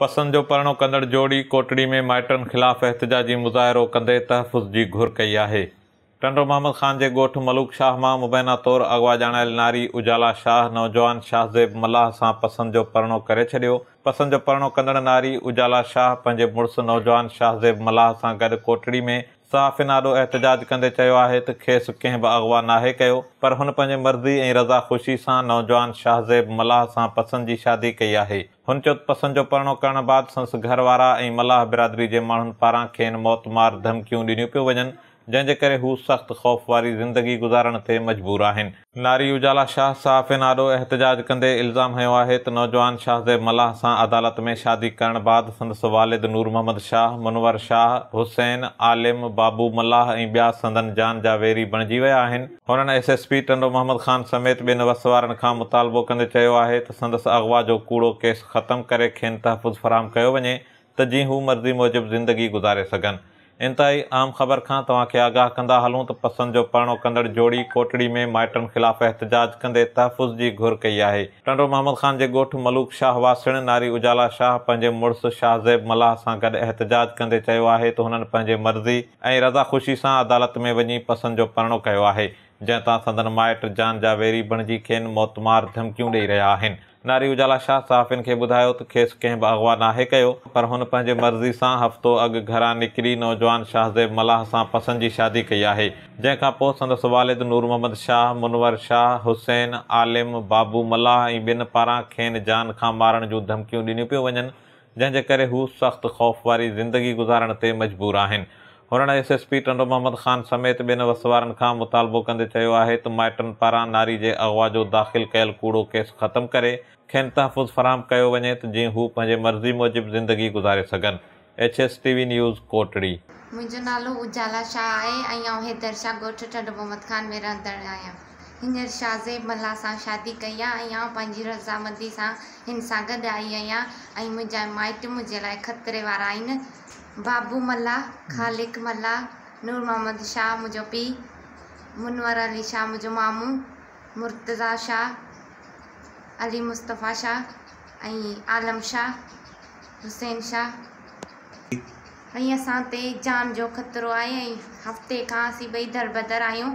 پسند جو پرڻو ڪندڙ جوڙي ڪوٽڙي ۾ مائٽن خلاف احتجاجي مظاهرو ڪندي تحفظ جي گهر ڪئي آهي. ٽنڊو محمد خان جي ڳوٺ ملوڪ شاهه مان مبينا طور اغوا ڄاڻايل ناري اجالا شاهه نوجوان شاهزيب ملاح سان پسند جو پرڻو ڪري ڇڏيو. پسند جو پرڻو ڪندڙ ناري اجالا شاهه پنهنجي مڙس نوجوان شاهزيب ملاح سان گڏ ڪوٽڙي ۾ صحافين آڏو احتجاج ڪندي چيو آهي ته کيس ڪنهن به اغوا ناهي ڪيو پر هن پنهنجي مرضي ۽ رضا خوشي سان نوجوان شاهزيب ملاح سان پسند جي شادي ڪئي آهي. هن چيو ته پسند جو پرڻو ڪرڻ بعد سندس گهر وارا ۽ ملاح برادري جي ماڻهن پاران کين موت مار ڌمڪيون ڏنيون پيون وڃن، جنهن جي ڪري هو سخت خوف واري زندگي گذارڻ تي مجبور آهن. ناري اجالا شاهه صحافين آڏو احتجاج ڪندي الزام هنيو آهي ته نوجوان شاهه زيب ملاح سان عدالت ۾ شادي ڪرڻ بعد سندس والد نور محمد شاهه، منور شاهه، حسين، عالم، بابو ملاح ۽ ٻيا سندن جان جا ويري بڻجي ويا آهن. هنن S S P Tando Muhammad Khan سميت ٻين وس وارن کان مطالبو ڪندي چيو آهي ته سندس اغوا جو ڪوڙو ڪيس ختم ڪري کين تحفظ فراهم ڪيو وڃي ته جي هو مرضي موجب زندگي گذاري سگهن. انتهائي اهم خبر کان توهان کي آگاهه ڪندا هلون ته پسند جو پرڻو ڪندڙ جوڙي ڪوٽڙي ۾ مائٽن خلاف احتجاج ڪندي تحفظ جي گهر ڪئي آهي. ٽنڊو محمد خان جي ڳوٺ ملوڪ شاهه واسڻ ناري اجالا شاهه پنهنجي مڙس شاهزيب ملاح سان گڏ احتجاج ڪندي چيو آهي ته هنن پنهنجي مرضي ۽ رضا خوشي سان عدالت ۾ وڃي پسند جو پرڻو ڪيو آهي، جنهن تان سندن مائٽ جان جا ويري بڻجي کين موتمار ڌمڪيون ڏئي رهيا آهن. ناري اجالا شاهه صحافين کي ٻڌايو ته کيس ڪنهن به اغوا ناهي ڪيو، پر هن پنهنجي مرضي سان هفتو اڳ گهران نڪري نوجوان شاهزيب ملاح سان پسند جي شادي ڪئي آهي، جنهن کان پوء سندس والد نور محمد شاهه، منور شاهه، حسين، عالم، بابو ملاح ۽ ٻين پاران کين جان کان مارڻ جون ڌمڪيون ڏنيون پيون وڃن، جنهن جي ڪري هو سخت خوف واري زندگي گذارڻ تي مجبور آهن. هنن S S P Tando Muhammad Khan سميت ٻين وس وارن کان مطالبو ڪندي چيو آهي ته مائٽن پاران ناري جي اغوا جو داخل ڪيل ڪوڙو ڪيس ختم ڪري کين تحفظ فراهم ڪيو وڃي ته جيئن هو پنهنجي مرضي موجب زندگي گذاري سگهن H S T V news Kotri. منهنجو نالو اجالا شاهه آهي ۽ آئون حيدر شاهه ڳوٺ ٽنڊو محمد خان ۾ رهندڙ آهيان. هينئر شاهه زيب ملاح سان شادي ڪئي آ ۽ آئون پنهنجي رضامندي سان هن سان گڏ آئي آهيان ۽ منهنجا مائٽ منهنجي لاء خطري وارا آهن. بابو ملاح، خالق ملاح، نور محمد شاهه منهنجو پيء، منور علي شاهه منهنجو مامو، مرتضيٰ شاهه، علي مصطفيٰ شاهه ۽ عالم شاهه، حسين شاهه. ۽ اسان تي جان جو خطرو آهي ۽ هفتي کان اسين ٻئي دربدر آهيون.